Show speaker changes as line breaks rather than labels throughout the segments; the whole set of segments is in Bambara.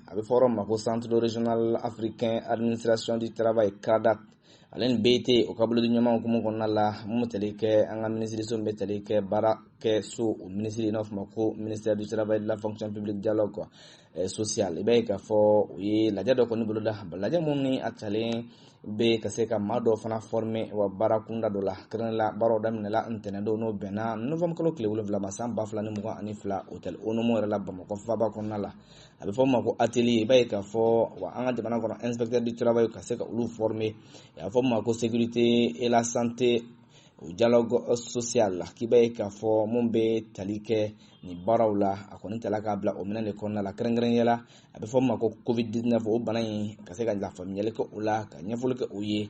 a bɛ fɔ yɔrɔ min ma ko centre régional africain administration du travail CRADAT ale ni BIT o ka bolodiɲɔgɔnma hukumu kɔnɔna la mun bɛ tali kɛ an ka minisiriso min bɛ tali kɛ baara kɛ so o minisiri n'a fɔ ma ko ministère du travail de la fonction publique dialogue quoi eh, social i b'a ye k'a fɔ u ye lajɛ dɔ kɔni boloda lajɛ mun ni a talen bɛ ka se ka maa dɔw fana fɔrime wa baara kunda dɔ la kɛrɛnkɛrɛn la baaraw daminɛla ntɛnɛndon n'o bɛnna novembre kalo tile wolonwula ma san ba fila ni mugan ani fila hôtel Onomo yɛrɛ la bamakɔ faaba kɔnɔna la a bɛ fɔ o ma ko atelier i b'a ye k'a fɔ wa an ka jamana kɔnɔ inspecteur du travail ka se ka olu former a bɛ fɔ o ma ko sécurité et la santé au dialogue social la k'i b'a ye k'a fɔ mun bɛ tali kɛ nin baaraw la a kɔni tala k'a bila o minɛn de kɔnɔna la kɛrɛnkɛrɛnnenya la a bɛ fɔ o ma ko covid 19 o bana in ka se ka lafaamuyali kɛ o la ka ɲɛfɔli kɛ o ye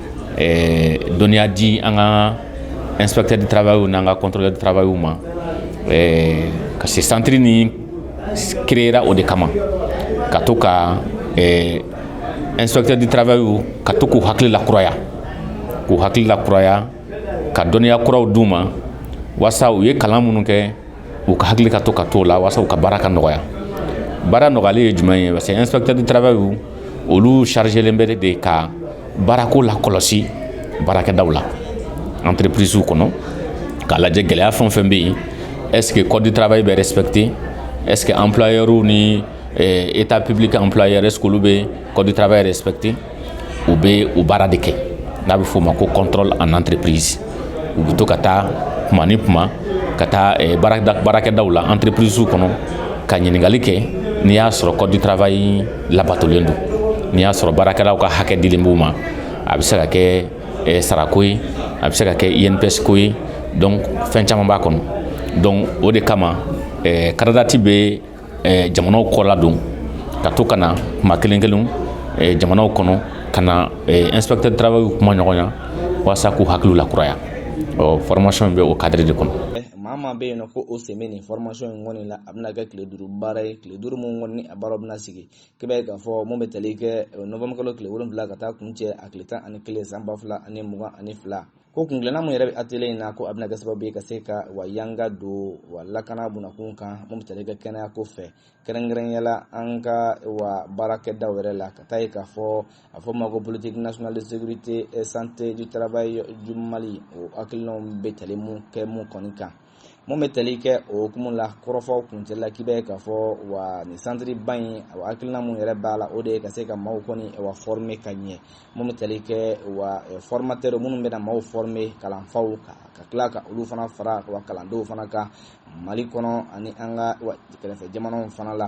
ɛɛ dɔnniya di an ka inspecteur du travailw n'an ka contrôleur du travailw ma ɛɛ ka se centre nin créera o de kama ka to ka ɛɛ inspecteur du travailw ka to k'u hakili lakuraya k'u hakili lakuraya ka dɔnniya kuraw d'u ma walasa u ye kalan minnu kɛ u ka hakili ka to ka to la walasasa u ka baara ka nɔgɔya baara nɔgɔya ye jumɛn ye parce que epkdi tarawele ye olu sariyarijɛlen bɛ de ka baarako la kɔlɔsi baarakɛda la an tirepsiw kɔnɔ k'a lajɛ gɛlɛya fɛn fɛn bɛ yen ɛsseke kɔdi tarawele bɛ spte ɛsseke anpyw ni e taa ppbi ka anpy s bɛ kɔdi tarawele yɛrɛ spte u bɛ o baara de kɛ n'a bɛ f'o ma ko contrôle en entreprise u bɛ to ka taa kuma ni kuma ka taa eh, baarakɛdaw la entreprisew kɔnɔ ka ɲininkali kɛ n'i y'a sɔrɔ code du travail labatolen don n'i y'a sɔrɔ baarakɛlaw ka hakɛ dilen b'u ma a bɛ se ka kɛ eh, sarako ye a bɛ se ka kɛ INPS ko ye donc fɛn caman b'a kɔnɔ donc o de kama eh, CRADAT bɛ jamanaw kɔ ladon ka to ka na kuma kelen kelen jamanaw kɔnɔ ka na inspecteur du travailw kumaɲɔgɔnya walasa k'u hakiliw lakuraya ɔ formation nin bɛ o cadre de kɔnɔ maa maa bɛ yen nɔ
ko o sen bɛ nin formation in kɔni la a bɛna kɛ tile duuru baara ye tile duuru min kɔni a baara bɛna sigi k'i b'a ye k'a fɔ mun bɛ tali kɛ novembre kalo tile wolonwula ka taa kuncɛ a tile tan ani kelen san ba fila ani mugan ani fila ko kuntilenna mun yɛrɛ bɛ atelier in na ko a bɛna kɛ sababu ye ka se ka wa yanga don wa lakana bunakun kan mun bɛ tali kɛ kɛnɛya ko fɛ kɛrɛnkɛrɛnnenya la an ka wa baarakɛdaw yɛrɛ la ka taa ye k'a fɔ a fɔ ma ko politique nationale de sécurité et santé du travail du Mali o hakilinaw bɛ tali mun kɛ mun kɔni kan mun bɛ tali kɛ o hukumu la kɔrɔfɔw kuncɛli la k'i b'a ye k'a fɔ wa nin santiriba in wa hakilina mun yɛrɛ b'a la o de ye ka se ka maaw kɔni wa fɔrime ka ɲɛ mun bɛ tali kɛ wa fɔrmatɛri minnu bɛna maaw fɔrime kalanfaw ka ka tila ka olu fana fara wa kalandenw fana kan mali kɔnɔ ani an ka kɛrɛfɛ jamanaw fana la